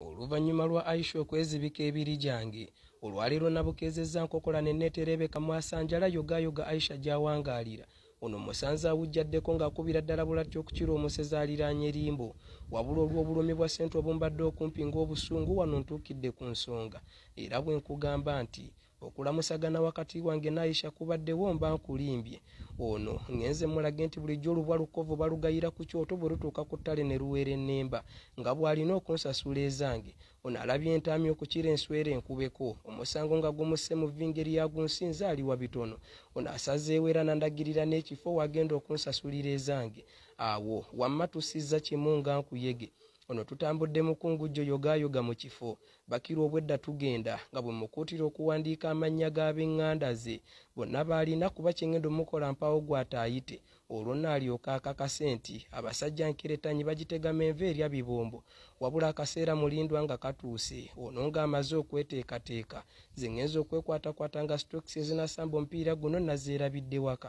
oluvannyuma lwa aisha okwezibika ebiri gyange olwaleero nabukeezezza nkokola ne netereebeka mwasanjala yogaayoga aisha gy'awangaalira ono musanze awujjaddeko ng'akubira ddala bulatti okukira omusezi aliraanye limbo wabula olw'obulumi bwa ssente obumbadde okumpi ng'obusungu wano ntuukidde ku nsonga era bwe nkugamba nti okulamusagana wakati wange naisha kubaddewo mba nkulimbye ono ngenze mulage nti bulijjo olubwa lukovu balugayira ku kyoto bwe lutuuka ku ttale ne luweera ennemba nga bw'alina okunsasula ezange ono alabye entaami okukira enswera enkubeko omusango nga gumusse mu vingeri yagunsinze aliwa bitono ono asazeewo era nandagirira n'ekifo wagenda okunsasulira ezange awo wamma tusizza kimu nga nkuyege ono tutambudde mukungujjo yogaayoga mu kifo bakira obwedda tugenda nga bwe mukuutira okuwandiika amannya g'ab'eŋŋanda ze bonna baalina kuba kyengendo mukola mpaawo gwataayite olwo naalyoka akakase nti abasajja nkeretanyi bagitegama enva erya bibombo wabula akaseera mulindwa nga katuuse ono ng'amaze okweteekateeka ze ŋŋenza okwekwatakwata nga stokisi ezinasamba omupiira guno nazeerabidde waka